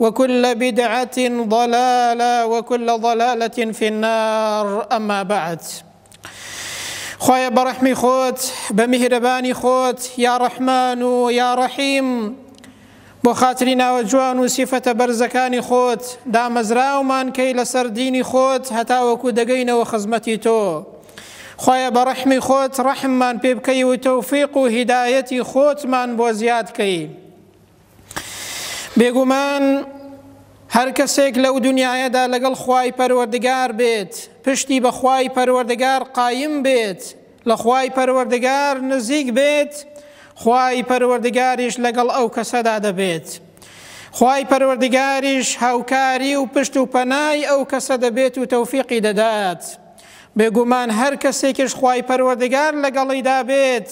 وکل بدعە ضلالە وکل ضلالە فی النار اما بعد خوایە بەڕەحمی خۆت بە میهرەبانی خۆت یا ڕەحمان و یا ڕەحیم بۆ خاتری ناوە جوان و سیفەتە بەرزەکانی خۆت دامەزراومان کەی لەسەر دینی خۆت هەتاوەکو دەگەینەوە خزمەتی تۆ خۆیە بە ڕەحمی خۆت ڕەحممان پێ بکەی و تەوفیق و هیدایەتی خۆتمان بۆ زیادکەی بێگومان هەرکەسێک لەو دنیایەدا لەگەڵ خوای پەروەردگار بێت پشتی بە خوای پەروەردگار قایم بێت لە خوای پەروەردگار نزیک بێت خوای پەروەردگاریش لەگەڵ ئەو کەسەدا دەبێت خوای پەروەردگاریش هاوکاری و پشت و پەنای ئەو کەسە دەبێت و تەوفیقی دەدات بێگومان هەر کەسێکیش خوای پەروەردگار لەگەڵیدا بێت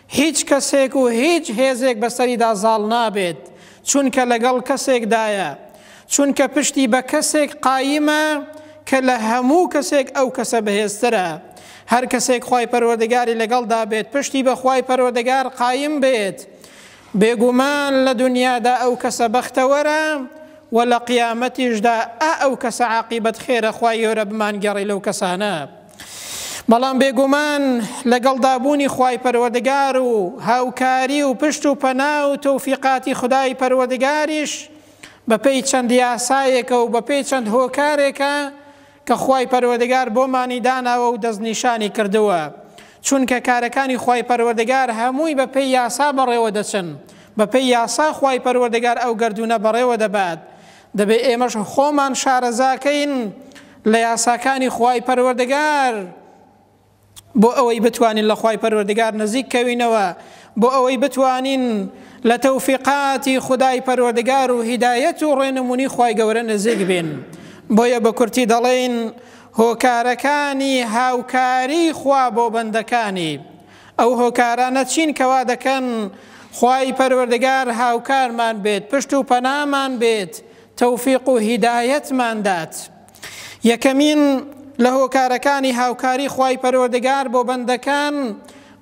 هیچ کەسێک و هیچ هێزێک بەسەریدا زاڵ نابێت، چونکە لەگەڵ کەسێکدایە، چونکە پشتی بە کەسێک قایمە کە لە هەموو کەسێک ئەو کەسە بەهێزترە. هەر کەسێک خوای پەروەردگاری لەگەڵدا بێت، پشتی بە خوای پەروەردگار قایم بێت، بێگومان لە دونیادا ئەو کەسە بەختەوەرە و لە قیامەتیشدا ئا ئەو کەسە عاقیبەت خێرە، خوای گەورە بمانگێڕی لەو کەسانە. بەڵام بێگومان لەگەڵدا بوونی خوای پەروەردگار و هاوکاری و پشت و پەنا و تەوفیقاتی خدای پەروەردگاریش بەپێی چەند یاسایەکە و بەپێی چەند هۆکارێکە کە خوای پەروەردگار بۆمانی داناوە و دەستنیشانی کردووە چونکە کارەکانی خوای پەروەردگار هەمووی بەپێی یاسا بەڕێوە دەچن بەپێی یاسا خوای پەروەردگار ئەو گردونە بەڕێوە دەبات دەبێت ئێمەش خۆمان شارەزاکەین لە یاساکانی خوای پەروەردگار بۆ ئەوەی بتوانین لە خوای پەروەردگار نزیک کەوینەوە بۆ ئەوەی بتوانین لە تەوفیقاتی خدای پەروەردگار و هیدایەت و ڕێنمونی خوای گەورە نزیک بین بۆیە بە کورتی دەڵێن هۆکارەکانی هاوکاری خوا بۆ بەندەکانی ئەو هۆکارانە چین کە وا دەکەن خوای پەروەردگار هاوکارمان بێت، پشت و پەنامان بێت، تەوفیق و هیدایەتمان دات؟ یەکەمین لە هۆکارەکانی هاوکاری خوای پەروەردگار بۆ بەندەکان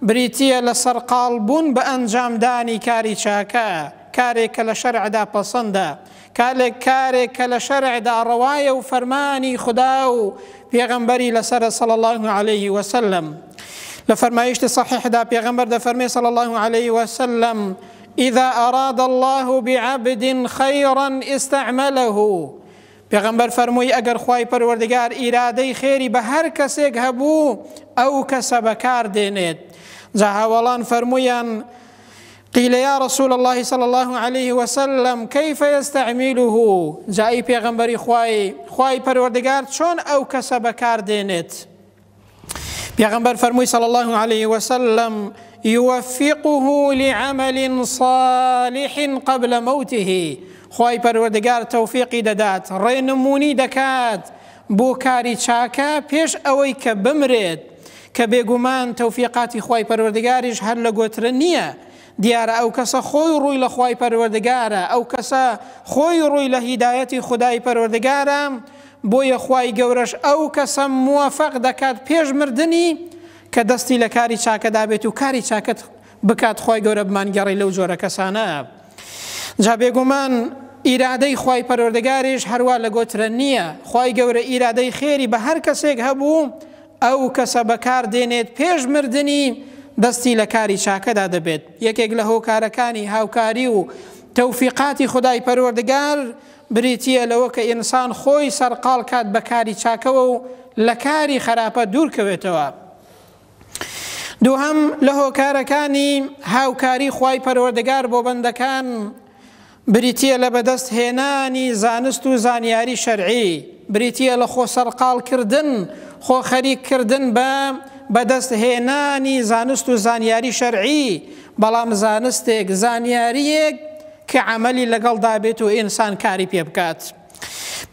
بریتییە لە سەرقاڵبوون بە ئەنجامدانی کاری چاکە، کارێک کە لە شەرعدا پەسەندە، کالێک کارێک کە لە شەرعدا ڕەوایە و فەرمانی خودا و پێغەمبەری لەسەرە صلی اللە علیه وسلم لە فەرمایشتی صحیحدا پێغەمبەر دەفەرمێ صلی اللە علیه وسلم إذا أراد الله بعبد خيرا استعمله پێغەمبەر فەرمووی ئەگەر خوای پەروەردگار ئیرادەی خێری بە هەر کەسێک هەبوو ئەو کەسە بەکار دێنێت جا هاوەڵان فەرموویان قیل یا رسول اللە صلی اللە علیه وسلم کیف یستعمله جا ئی پێغەمبەری خوای خوای پەروەردگار چۆن ئەو کەسە بەکار دێنێت پێغەمبەر فەرمووی صلی اللە علیه وسلم يوفقه لعمل صالح قبل موته خوای پەروەردگار تەوفیقی دەدات ڕێنمونی دەکات بۆ کاری چاکە پێش ئەوەی کە بمرێت کە بێگومان تەوفیقاتی خوای پەروەردگاریش هەر لە گۆترە نییە، دیارە ئەو کەسە خۆی ڕووی لە خوای پەروەردگارە، ئەو کەسە خۆی ڕووی لە هیدایەتی خودای پەروەردگارە، بۆیە خوای گەورەش ئەو کەسە موەفەق دەکات پێش مردنی کە دەستی لە کاری چاکەدا بێت و کاری چاکەت بکات خوای گەورە بمانگێڕی لەو جۆرە کەسانە جا بێگومان ئیرادەی خوای پەرۆردەگاریش هەروە لە گۆترە نییە خوای گەورە ئیرادەی خێری بە هەر کەسێک هەبوو ئەو کەسە بەکار دێنێت پێش مردنی دەستی لە کاری چاکەدا دەبێت یەکێک لە هۆکارەکانی هاوکاری و تەوفیقاتی خدای پەروەردگار بریتە لەوە کە ئینسان خۆی سەرقال کات بە کاری چاکەوە و لە کاری خراپە دوورکەوێتەوە دووهەم، لە هۆکارەکانی هاوکاری خوای پەروەردگار بۆ بەندەکان بریتییە لە بەدەست هێنانی زانست و زانیاری شەرعی، بریتییە لە خۆ سەرقاڵ کردن، خۆ خەریک کردن بە بەدەست هێنانی زانست و زانیاری شەرعی، بەڵام زانستێک، زانیارییەک کە عەمەلی لەگەڵدا بێت و ئینسان کاری پێ بکات.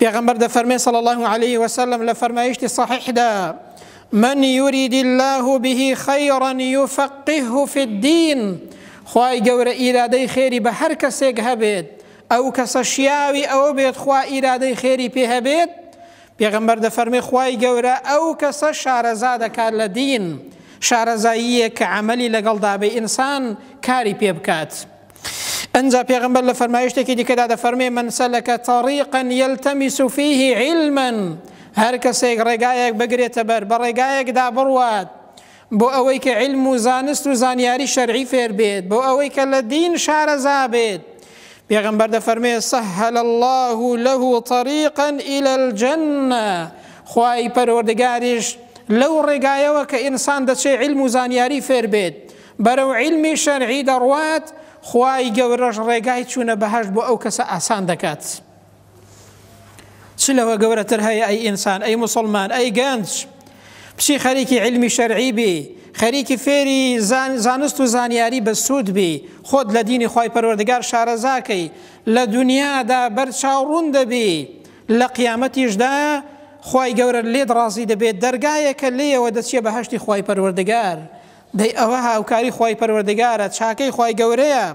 پێغەمبەر دەفەرمێ صلی الله علیه وسلم لە فەرمایشتی صحیحدا من يريد الله به خيرا يفقهه في الدين خوای گەورە ئیرادەی خێری بە هەر کەسێک هەبێت ئەو کەسە شیاوی ئەوە بێت خوا ئیرادەی خێری پێ هەبێت پێغەمبەر دەفەرمی خوای گەورە ئەو کەسە شارەزا دەکات لە دین شارەزاییە کە عملی لەگەڵ دابێ ئینسان کاری پێ بکات ئنجا پێغەمبەر لە فەرمایشتێکی دیکەدا دەفەرمێ من سەلەکە طریقا یلتمس فیه علما هەر کەسێک ڕێگایەک بگرێتە بەر بە ڕێگایەکدا بڕوات بۆ ئەوەی کە علم و زانست و زانیاری شەرعی فێر بێت بۆ ئەوەی کە لە دین شارەزا بێت پێغەمبەر دەفەرمێ سەهل الله له طریقا إلى الجنة خوای پەروەردگاریش لەو ڕێگایەوە کە ئینسان دەچێ علم و زانیاری فێر بێت بەرەو عیلمی شەرعی دەڕوات، خوای گەورەش ڕێگای چوونە بەهەشت بۆ ئەو کەسە ئاسان دەکات. چ لەوە گەورەتر هەیە ئەی ئینسان، ئەی موسڵمان، ئەی گەنج، بچی خەریکی عیلمی شەرعی بی، خەریکی فێری زانست و زانیاری بەسوود بی، خۆت لە دینی خوای پەروەردگار شارەزا کەی، لە دونیادا بەرچاو ڕوون دەبی، لە قیامەتیشدا خوای گەورە لێت ڕازی دەبێت، دەرگایەکە لێیەوە دەچیە بەهەشتی خوای پەروەردگار. دەی ئەوە هاوکاری خوای پەروەردگارە چاکەی خوای گەورەیە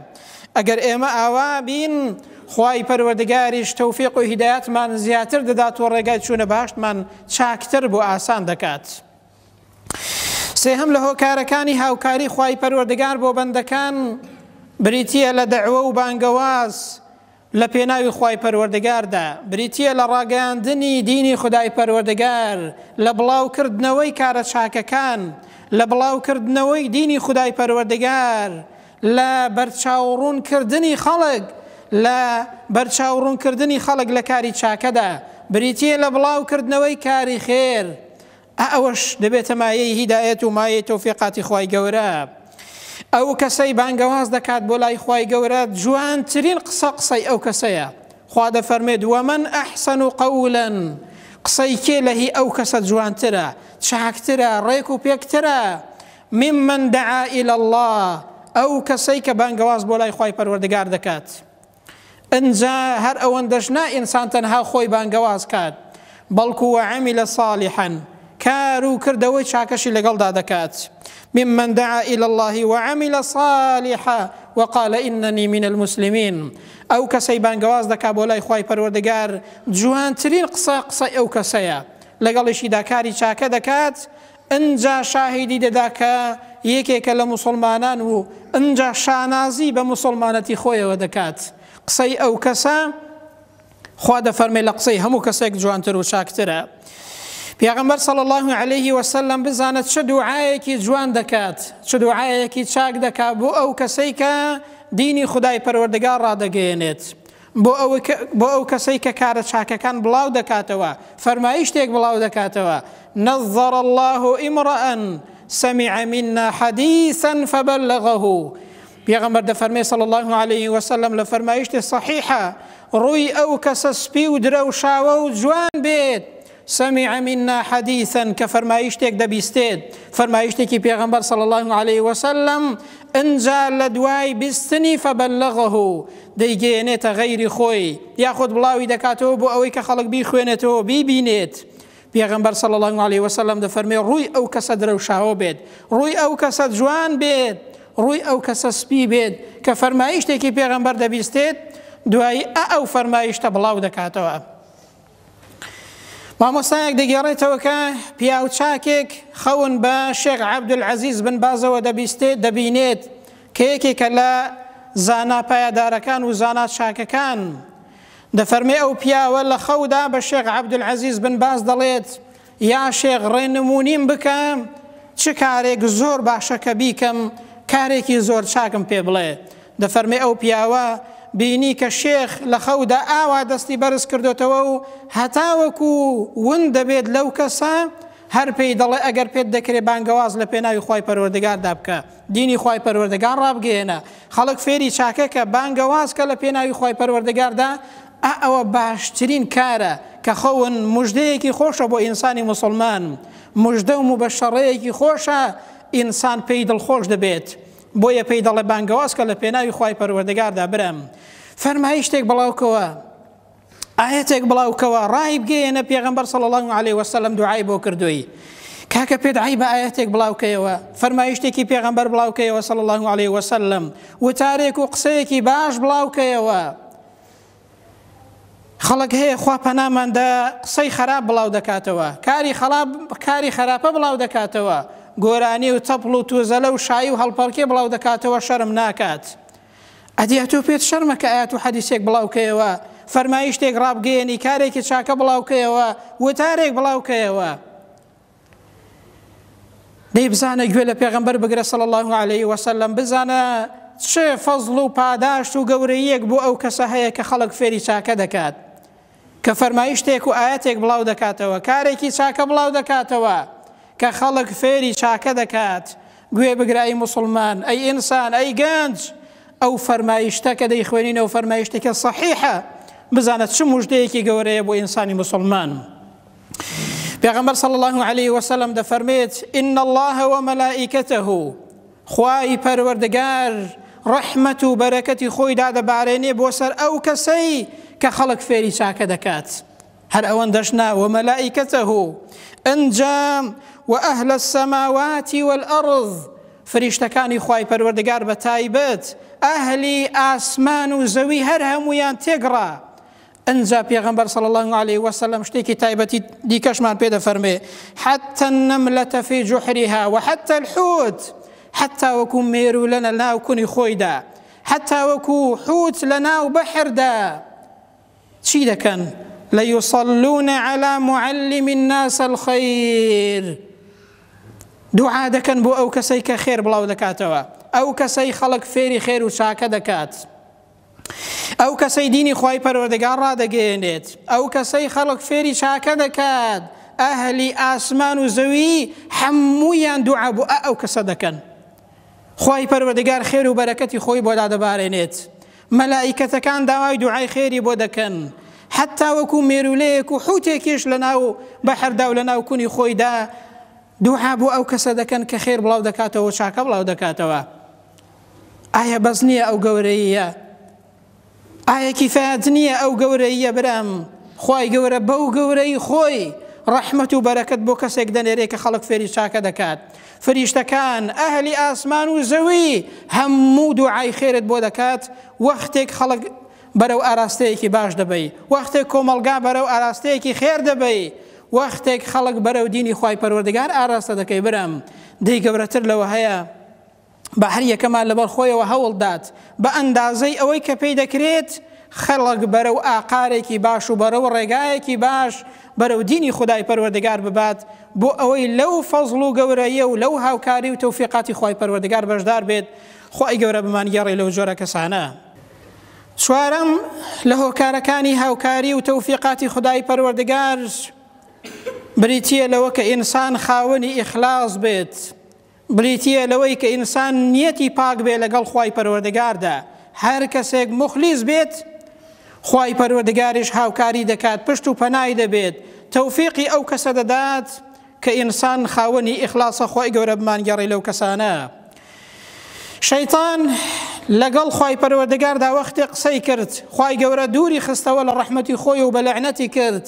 ئەگەر ئێمە ئاوا بین خوای پەروەردگاریش تەوفیق و هیدایەتمان زیاتر دەدات و ڕێگای چوونە بەهەشتمان چاکتر بۆ ئاسان دەکات سێهەم لە هۆکارەکانی هاوکاری خوای پەروەردگار بۆ بەندەکان بریتییە لە دەعوە و بانگەواز لە پێناوی خوای پەروەردگاردا، بریتییە لە ڕاگەیاندنی دینی خودای پەروەردگار، لە بڵاوکردنەوەی کارە چاکەکان، لە بڵاوکردنەوەی دینی خودای پەروەردگار، لە بەرچاوڕوونکردنی خەڵک لە بەرچاوڕوونکردنی خەڵک لە کاری چاکەدا، بریتییە لە بڵاوکردنەوەی کاری خێر، ئا ئەوەش دەبێتە مایەی هیدایەت و مایەی تەوفیقاتی خوای گەورە. ئەو کەسەی بانگەواز دەکات بۆ لای خوای گەورە جوانترین قسە قسەی ئەو کەسەیە، خوا دەفەرموێت، ومن احسن قولا، قسەی کێ لە هی ئەو کەسە جوانترە، چاکترە، ڕێک و پێکترە، ممن دعا الی اللە، ئەو کەسەی کە بانگەواز بۆ لای خوای پەروەردگار دەکات. ئنجا هەر ئەوەندەش نا ئینسان تەنها خۆی بانگەواز کات، بەڵکو وعمل صالحا کار و کردەوەی چاکەشی لەگەڵدا دەکات، ممن دعا الی اللە وعمل صالحا وقال اننی من المسلمین، ئەو کەسەی بانگەواز دەکات بۆ لای خوای پەروەردگار جوانترین قسە قسەی ئەو کەسەیە، لەگەڵیشیدا کاری چاکە دەکات، ئنجا شاهیدی دەدا کە یەکێکە لە موسڵمانان و ئنجا شانازی بە موسڵمانەتی خۆیەوە دەکات. قسەی ئەو کەسە خوا دەفەرمێ لە قسەی هەموو کەسێک جوانتر و چاکترە. پێغەمبەر صلی اللە علیه وسلم بزانە چ دوعایەکی جوان دەکات، چ دوعایەکی چاک دەکات بۆ ئەو کەسەی کە دینی خودای پەروەردگار ڕادەگەیەنێت. بۆ ئەو کەسەی کە کارە چاکەکان بڵاو دەکاتەوە فەرمایی شتێک بڵاو دەکاتەوە، نظر اللە امرء سمع منا حدیثا فبلغه، پێغەمبەر دەفەرمێ صلی اللە علیە وسلم لە فەرمایشتێ صەحیحە، ڕووی ئەو کەسە سپی و درەوشاوە و جوان بێت، سمع منا حدیثا کە فەرمایشتێک دەبیستێت فەرمایشتێکی پێغەمبەر صلی الله علیه وسلم انجا لە دوای بیستنی فبلغه دەیگەیەنێتە غەیری خۆی یاخود بڵاوی دەکاتەوە بۆ ئەوەی کە خەڵک بیخوێنێتەوە بیبینێت پێغەمبەر صلی الله علیه وسلم دەفەرمێ ڕووی ئەو کەسە درەوشاوە بێت ڕووی ئەو کەسە جوان بێت ڕووی ئەو کەسە سپی بێت کە فەرمایشتێکی پێغەمبەر دەبیستێت دوایی ئە ئەو فەرمایشتە بڵاو دەکاتەوە مامۆستایەک دەگێڕێتەوە کە پیاوچاکێک خەون بە شێخ عەبدولعەزیز بن بازەوە دەبیستێت دەبینێت کە یەکێکە لە زانا پایەدارەکان و زانا چاکەکان دەفەرمێ ئەو پیاوە لە خەودا بە شێخ عەبدولعەزیز بن باز دەڵێت یا شێخ ڕێنمونیم بکە چ کارێک زۆر باشە کە بیکەم کارێکی زۆر چاکم پێ بڵێ دەفەرمێ ئەو پیاوە بینی کە شێخ لە خەودا ئاوا دەستی بەرز کردۆتەوە و هەتاوەکو ون دەبێت لەو کەسە هەر پێی دەڵێ ئەگەر پێت دەکرێ بانگەواز لە پێناوی خوای پەروەردگاردا بکە دینی خوای پەروەردگار ڕابگەیەنە خەڵک فێری چاکەکە بانگەواز کە لە پێناوی خوای پەروەردگاردا ئا ئەوە باشترین کارە کە خەون مژدەیەکی خۆشە بۆ ئینسانی موسڵمان مژدە و موبەشەڕەیەکی خۆشە ئینسان پێی دڵخۆش دەبێت بۆیە پێی دەڵێ بانگەواز کە لە پێناوی خوای پەروەردگاردا برام فەرمایشتێک بڵاو کەوە ئاەتێک بڵاو کەوە ڕای بگەیەنە پێغەمبەر صلی الله علیه وسلم دوعای بۆ کردووی کاکە پێت عیبە ئاەتێک بڵاوکەیەوە فەرمایشتێکی پێغەمبەر بڵاوکەیەوە صلی الله علیه وسلم وتارێک و قسەیەکی باش بڵاوکەیەوە خەڵک هەیە خوا پەنامان دا قسەی خەراپ بڵاو دەکاتەوە کاری خەڵاب کاری خەراپە بڵاو دەکاتەوە گۆرانی و تەپڵ و توزەلە و شایی و هەڵپەڵکێ بڵاو دەکاتەوە شەرم ناکات ئەدی ئەتۆ پێت شەرمە کە ئاەت و حەدیسێک بڵاوکەیەوە فەرمایشتێک ڕابگەیەنی کارێکی چاکە بڵاوکەیەوە وتارێک بڵاوکەیەوە دەی بزانە گوێ لە پێغەمبەر بگرە صلی الله علیه وسلم بزانە چ فەزڵ و پاداشت و گەورەیەک بۆ ئەو کەسە هەیە کە خەڵک فێری چاکە دەکات کە فەرمایشتێک و ئاەتێک بڵاو دەکاتەوە کارێکی چاکە بڵاو دەکاتەوە کە خەڵک فێری چاکە دەکات گوێ بگرایی مسلمان ئەی ئینسان ئەی گەنج ئەو فەرمایشتە کە دەیخوێنین ئەو فەرمایشتێکە صحیحە بزانە چ مژدەیەکی گەورەیە بۆ ئینسانی مسلمان. پێغەمبەر صلی الله علیه وسلم دەفەرمێت ان الله وملائکته خوای پەروەردگار ڕەحمەت و بەرەکەتی خۆی دادەبارێنێ بۆ سەر ئەو کەسەی کە خەڵک فێری چاکە دەکات هەر ئەوەن دەشنا وملائکته ئەنجام و ئەهل السماواتی والأرض فریشتەکانی خوای پەروەردگار بە تایبەت ئەهلی ئاسمان و زەوی هەر هەمویان تێگڕا ئنجا پێغەمبەر صلی اللە علیە وسلم شتێکی تایبەتی دیکەشمان پێ دەفەرمێ حتى النملة في جحرها وحتى الحوت حتى وەکو مێرو لە ناو کونی خۆیدا حتى وەکو حوت لە ناو بەحردا چی دەکەن ليصلون على معلم الناس الخير دوعا دەکەن بۆ ئەو کەسەی کە خێر بڵاو دەکاتەوە ئەو کەسەی خەڵک فێری خێر و چاکە دەکات ئەو کەسەی دینی خوای پەروەردگار ڕادەگەیەنێت، ئەو کەسەی خەڵک فێری چاکە دەکات، ئەهلی ئاسمان و زەوی هەموویان دوعا بۆ ئەو کەسە دەکەن. خوای پەروەردگار خێر و بەرەکەتی خۆی بۆ دادەبارێنێت. مەلائیکەتەکان داوای دوعای خێری بۆ دەکەن. حەتا وەکو مێرولەیەک و حوتێکیش لەناو بەحردا و لەناو کونی خۆیدا دوعا بۆ ئەو کەسە دەکەن کە خێر بڵاو دەکاتەوە و چاکە بڵاو دەکاتەوە. ئایا بەس نیە ئەو گەورەییە؟ ئایا کیفایەت نیە ئەو گەورەییە برام خوای گەورە بەو گەورەیی خۆی ڕەحمەت و بەرەکەت بۆ کەسێک دەنێرێ کە خەڵک فێری چاکە دەکات فریشتەکان ئەهلی ئاسمان و زەوی هەموو دوعای خێرت بۆ دەکات وەختێک خەڵک بەرەو ئاراستەیەکی باش دەبەی وەختێک کۆمەڵگا بەرەو ئاراستەیەکی خێر دەبەی وەختێک خەڵک بەرەو دینی خوای پەروەردگار ئاراستە دەکەی برام دەی گەورەتر لەوە هەیە؟ با هەر یەکەمان لەبەر خۆیەوە هەوڵ دات بە ئەندازەی ئەوەی کە پێی دەکرێت خەڵک بەرەو ئاقارێکی باش و بەرەو ڕێگایەکی باش بەرەو دینی خدای پەروەردگار ببات بۆ ئەوەی لەو فەزڵ و گەورەیە و لەو هاوکاری و تەوفیقاتی خوای پەروەردگار بەشدار بێت خوای گەورە بمان گێڕی لەو جۆرە کەسانە چوارەم لە هۆکارەکانی هاوکاری و تەوفیقاتی خدای پەروەردگار بریتە لەوە کە ئینسان خاوەنی ئیخلاص بێت بریتیە لەوەی کە ئینسان نیەتی پاک بێت لەگەڵ خوای پەروەردگاردا، هەر کەسێک موخلیس بێت خوای پەروەردگاریش هاوکاری دەکات پشت و پەنای دەبێت تەوفیقی ئەو کەسە دەدات کە ئینسان خاوەنی ئیخلاسە خوای گەورە بمانگێڕی لەو کەسانە شەیتان لەگەڵ خوای پەروەردگاردا وەختێ قسەی کرد خوای گەورە دووری خستەوە لە ڕەحمەتی خۆی و بە لەعنەتی کرد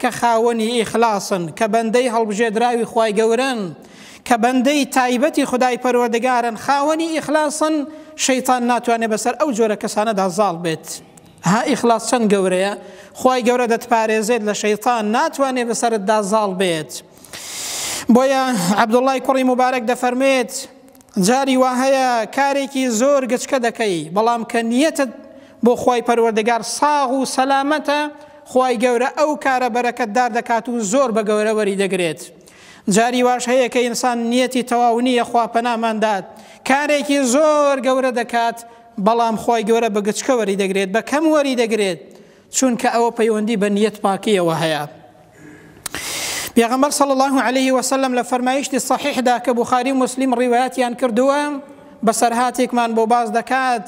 کە خاوەنی ئیخلاسن، کە بەندەی هەڵبژێدراوی خوای گەورەن، کە بەندەی تایبەتی خودای پەروەردگارن، خاوەنی ئیخلاسن، شەیتان ناتوانێت بەسەر ئەو جۆرە کەسانەدا زاڵ بێت. ها ئیخلاس چەند گەورەیە، خوای گەورە دەتپارێزێت لە شەیتان، ناتوانێت بەسەرتدا زاڵ بێت. بۆیە عەبدوڵڵای کوڕی موبارەک دەفەرموێت، جاری وا هەیە کارێکی زۆر گچکە دەکەی بەڵام کە نیەتت بۆ خوای پەروەردگار ساغ و سەلامەتە خوای گەورە ئەو کارە بەرەکەتدار دەکات و زۆر بە گەورە وەری دەگرێت جاری واش هەیە کە ئینسان نیەتی تەواو نییە خوا پەنامان دات کارێکی زۆر گەورە دەکات بەڵام خوای گەورە بە گچکە وەری دەگرێت بە کەم وەری دەگرێت چونکە ئەوە پەیوەندی بە نیەت پاکیەوە هەیە پێغەمبەر صلی الله عليه وسلم لە فەرمایشتی صحیحدا کە بخاری و مسلم ڕیوایەتیان کردووە بەسەرهاتێکمان بۆ باز دەکات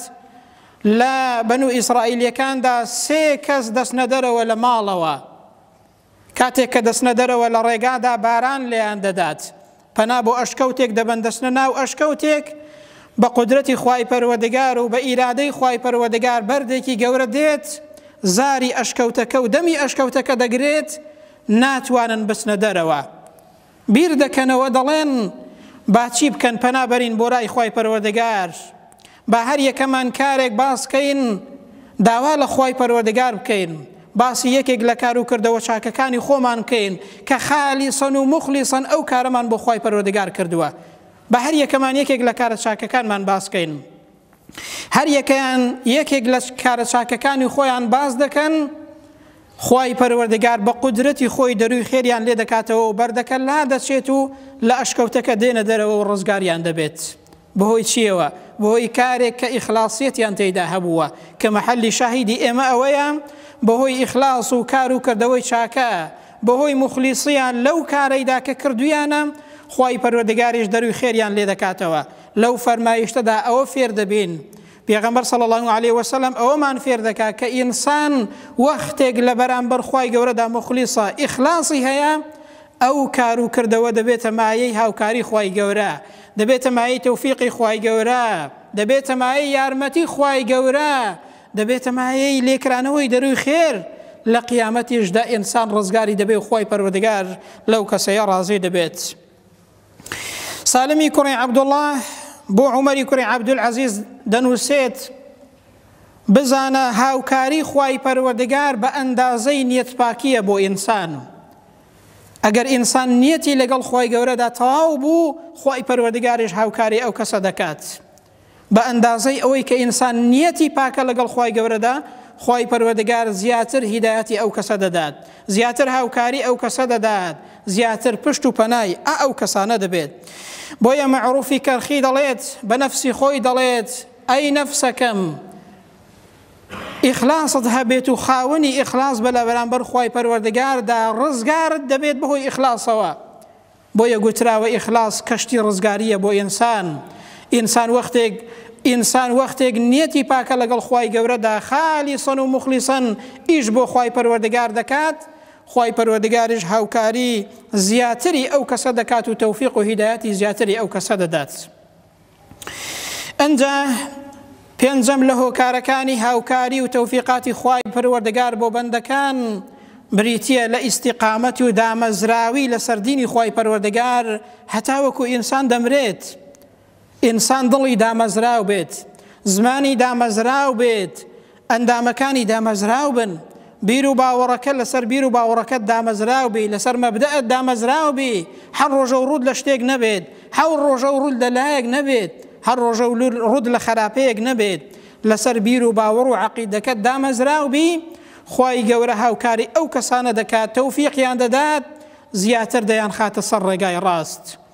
لە بەن و ئیسرائیلەکاندا سێ کەس دەستنەدەرەوە لە ماڵەوە کاتێک کە دەچنە دەرەوە لە ڕێگادا باران لێیان دەدات پەنا بۆ ئەشکەوتێک دەبەن دەچنە ناو ئەشکەوتێک بە قودرەتی خوای پەروەردگار و بە ئیرادەی خوای پەروەردگار بەردێکی گەورە دێت زاری ئەشکەوتەکە و دەمی ئەشکەوتەکە دەگرێت ناتوانن بچنە دەرەوە بیر دەکەنەوە دەڵێن، با چی بکەن پەنا بەرین بۆ لای خوای پەروەردگار، با هەر یەکەمان کارێک باس کەین داوا لە خوای پەروەردگار بکەین، باسی یەکێک لە کارو کردەوە چاکەکانی خۆمان بکەین کە خالیسەن و موخلیسەن ئەو کارەمان بۆ خوای پەروەردگار کردوە، با هەر یەکەمان یەکێک لە کارە چاکەکانمان باس کەین. هەریەکەیان یەکێک لە کارە چاکەکانی خۆیان باس دەکەن خوای پەروەردگار بە قودرەتی خۆی دەروی خێریان لێ دەکاتەوە و بەردەکە لا دەچێت و لە ئەشکەوتەکە دێنە دەرەوە و ڕزگاریان دەبێت بەهۆی چیەوە بەهۆی کارێک کە ئیخلاسیەتیان تێدا هەبووە کە مەحەلی شاهیدی ئێمە ئەوەیە بەهۆی ئیخلاس و کار و کردەوەی چاکە بەهۆی مخلیسیان لەو کارەیدا کە کردویانە خوای پەروەردگاریش دەروی خێریان لێ دەکاتەوە لەو فەرمایشتەدا ئەوە فێر دەبین، پێغەمبەر صلی اللە علیە وسلم ئەوەمان فێر دەکات کە ئینسان وەختێک لە بەرامبەر خوای گەورەدا موخلیصە، ئیخلاصی هەیە، ئەو کار و کردەوە دەبێتە مایەی هاوکاری خوای گەورە، دەبێتە مایەی تەوفیقی خوای گەورە، دەبێتە مایەی یارمەتی خوای گەورە، دەبێتە مایەی لێکرانەوەی دەرووی خێر، لە قیامەتیشدا ئینسان ڕزگاری دەبێ و خوای پەروەردگار لەو کەسەیە ڕازی دەبێت. سالمی کوڕی عەبدوڵڵا بۆ عومەری کوڕی عەبدولعەزیز دەنووسێت بزانە هاوکاری خوای پەروەردگار بە ئەندازەی نیەتپاکیە بۆ ئینسان و ئەگەر ئینسان نیەتی لەگەڵ خی گەورەدا تەواو بوو خی پەروەردگارش هاوکاری ئەو کەسە دەکات بە ئەندازەی ئەوەی کە ئینسان نیەتی پاکە لەگەڵ خوای گەورەدا، خوای پەروەردگار زیاتر هیدایەتی ئەو کەسە دەدات، زیاتر هاوکاری ئەو کەسە دەدات، زیاتر پشت و پەنای ئە ئەو کەسانە دەبێت. بۆیە مەعروفی کەرخی دەڵێت بە نەفسی خۆی دەڵێت، ئەی نەفسەکەم ئیخلاست هەبێت و خاوەنی ئیخلاس بە لە بەرامبەر خوای پەروەردگاردا، ڕزگارت دەبێت بەهۆی ئیخلاسەوە. بۆیە گوتراوە ئیخلاس کەشتی ڕزگاریە بۆ ئینسان ئینسان وەختێک ئینسان وەختێک نیەتی پاکە لەگەڵ خوای گەورەدا خالیسەن و مخلیسەن ئیش بۆ خوای پەروەردگار دەکات خوای پەروەردگاریش هاوکاری زیاتری ئەو کەسە دەکات و تەوفیق و هیدایەتی زیاتری ئەو کەسە دەدات ئنجا پێنجەم لە هۆکارەکانی هاوکاری و تەوفیقاتی خوای پەروەردگار بۆ بەندەکان بریتە لە ئیسیقامەت و دامەزراوی لە سەردینی خوای پەروەردگار هەتاوەکو ئینسان دەمرێت ئینسان دڵی دامەزراو بێت زمانی دامەزراو بێت ئەندامەکانی دامەزراو بن، بیر و باوەڕەکە لەسەر بیر و باوەڕەکەت دامەزراو بی، لەسەر مەبدەئت دامەزراو بی، هەر ڕۆژەو ڕووت لە شتێک نەبێت، هەور ڕۆژەو ڕووت لە لایەک نەبێت، هەر ڕۆژەو ڕووت لە خەراپەیەک نەبێت، لەسەر بیر و باوەڕ و عەقیدەکەت دامەزراو بی، خوای گەورە هاوکاری ئەو کەسانە دەکات، تەوفیقیان دەدات، زیاتر دەیانخاتە سەر ڕێگای ڕاست،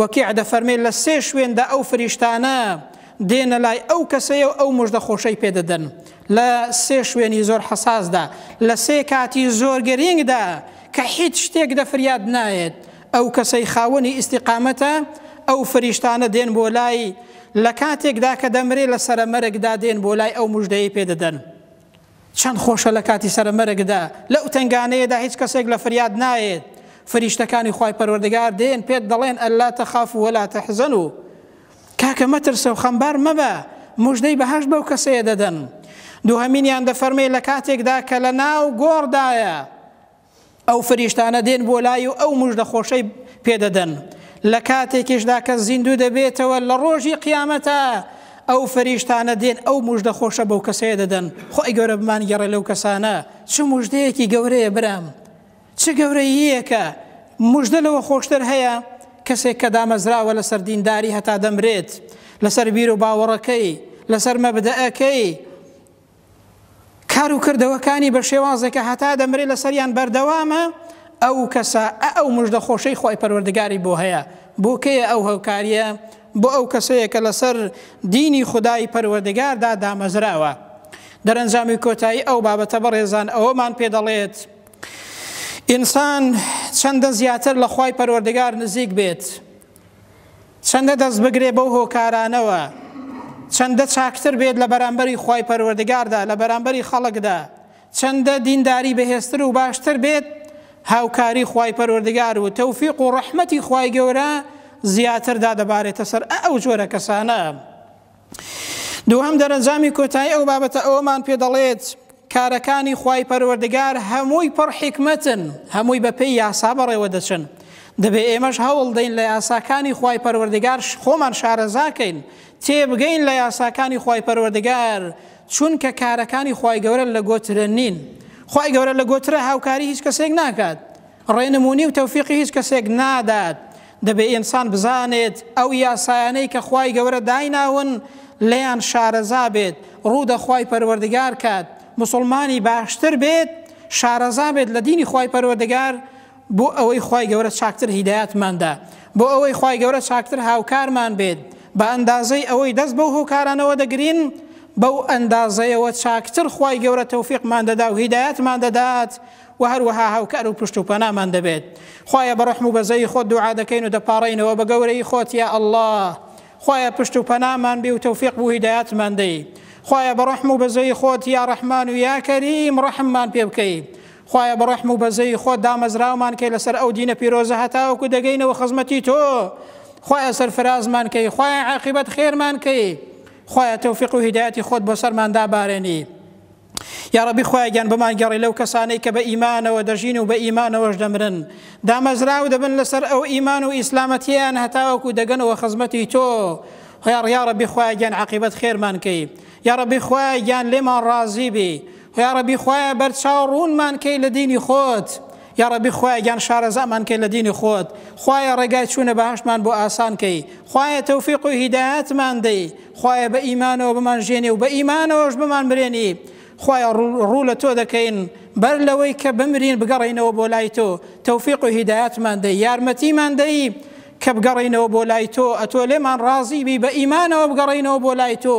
وەکیع دەفەرمێ لە سێ شوێندا ئەو فریشتانە دێنە لای ئەو کەسەیە و ئەو مژدە خۆشەی پێ دەدەن لە سێ شوێنی زۆر حەساسدا لە سێ کاتی زۆر گرینگدا کە هیچ شتێک دە فریاد نایەت ئەو کەسەی خاوەنی ئیستیقامەتە ئەو فریشتانە دێن بۆ لای لە کاتێکدا کە دەمرێ لە سەرە مەرگدا دێن بۆ لای ئەو مژدەیەی پێ دەدەن چەند خۆشە لە کاتی سەرە مەرگدا لەو تەنگانەیەدا هیچ کەسێک لە فریاد نایەت فریشتەکانی خوای پەروەردگار دێن پێت دەڵێن ئەلا تەخافو وەلا تەحزەنو کاکە مەترسەو خەمبار مەبە موژدەی بەهەشت بەو کەسەیە دەدەن دوهەمینیان دەفەرمێ لە کاتێکدا کە لە ناو گۆڕدایە ئەو فریشتانە دێن بۆ لای و ئەو مژدە خۆشەی پێدەدەن لە کاتێکیشدا کە زیندوو دەبێتەوە لە ڕۆژی قیامەتە ئەو فریشتانە دێن ئەو مژدە خۆشە بەو کەسەیە دەدەن خۆی گەورە بمان گەڕێ لەو کەسانە چ مژدەیەکی گەورەیە برام چ گەورەییەکە مژدە لەوە خۆشتر هەیە کەسێک کە دامەزراوە لەسەر دینداری هەتا دەمرێت لەسەر بیر و باوەڕەکەی لەسەر مەبدەەکەی کار و کردەوەکانی بە شێوازێک کە هەتا دەمرێ لەسەریان بەردەوامە، ئەو کەسە ئە ئەو مژدە خۆشەی خوای پەروەردگاری بۆ هەیە، بۆ کێیە ئەو هۆکاریە؟ بۆ ئەو کەسەیە کە لەسەر دینی خودای پەروەردگاردا دامەزراوە. دەرەنجامی کۆتایی ئەو بابەتە بەڕێزان ئەوەمان پێ دەڵێت، ئینسان چەندە زیاتر لە خوای پەروەردگار نزیک بێت، چەندە دەست بگرێ بەو هۆکارانەوە، چەندە چاکتر بێت لە بەرامبەری خوای پەروەردگاردا، لە بەرامبەری خەڵکدا، چەندە دینداری بەهێزتر و باشتر بێت، هاوکاری خوای پەروەردگار و تەوفیق و ڕەحمەتی خوای گەورە زیاتر دادەبارێتە سەر ئە ئەو جۆرە کەسانە. دووهەم دەرەنجامی کۆتایی ئەو بابەتە ئەوەمان پێ دەڵێت کارەکانی خوای پەروەردگار هەمووی پڕ حیکمەتن هەمووی بە پێی یاسا بەڕێوە دەچن دەبێ ئێمەش هەوڵ دەین لە یاساکانی خوای پەروەردگار خۆمان شارەزاکەین تێبگەین لە یاساکانی خوای پەروەردگار چونکە کارەکانی خوای گەورە لە گۆترە نین خوای گەورە لە گۆترە هاوکاری هیچ کەسێک ناکات ڕێنمونی و تەوفیقی هیچ کەسێک نادات دەبێ ئینسان بزانێت ئەو یاسایانەی کە خوای گەورە دایناون لێیان شارەزا بێت ڕوو دە خوای پەروەردگار کات موسڵمانی باشتر بێت شارەزا بێت لە دینی خوای پەروەردگار بۆ ئەوەی خوای گەورە چاکتر هیدایەتماندا بۆ ئەوەی خوای گەورە چاکتر هاوکارمان بێت بە ئەندازەی ئەوەی دەست بەو هۆکارانەوە دەگرین بەو ئەندازەیەوە چاکتر خوای گەورە تەوفیقمان دەدا و هیدایەتمان دەدات وە هەروەها هاوکار و پشت و پەنامان دەبێت خوایە بە ڕەحم و بەزەیی خۆت دوعا دەکەین و دەپاڕێینەوە بە گەورەیی خۆت یا اللە خوایە پشت و پەنامان بی و تەوفیق بو هیدایەتمان دەی خوایە بە ڕەحم و بەزەیی خۆت یا ڕەحمان و یا کەریم ڕەحممان پێ بکەی خوایە بە ڕەحم و بەزەیی خۆت دامەزراومان کەی لەسەر ئەو دینە پیرۆزە هەتاوەکو دەگەینەوە خزمەتی تۆ خوایە سەرفرازمان کەی خوایە عاقبەت خێرمان کەی خوایە تەوفیق و هیدایەتی خۆت بۆ سەرمان دابارێنی یاڕەبی خوایە گیان بمان گەڕی لەو کەسانەی کە بە ئیمانەوە دەژین و بە ئیمانەوەش دەمرن دامەزراو دەبن لەسەر ئەو ئیمان و ئیسلامەتیان هەتاوەکو دەگەنەوە خزمەتی تۆ هۆیاڕ یاڕەبی خوایە گیان عقیبەت خێرمان کەی یاڕەبی خوایە گیان لێمان ڕازی بی هۆیاڕەبی خوایە بەرچاو ڕوونمان کەی لە دینی خۆت یاڕەبی خوایە گیان شارەزامان کەی لە دینی خۆت خوایە ڕێگای چوونە بەهەشتمان بۆ ئاسان کەی خوایە تەوفیق و هیدایەتمان دەی خوایە بە ئیمانەوە بمان ژێنی و بە ئیمانەوەش بمان مرێنی خوایە ڕوو لە تۆ دەکەین بەر لەوەی کە بمرین بگەڕینەوە بۆ لای تۆ تەوفیق و هیدایەتمان دەی یارمەتیمان دەی کە بگەڕینەوە بۆ لای تۆ ئەتۆ لێمان ڕازی بی بە ئیمانەوە بگەڕینەوە بۆ لای تۆ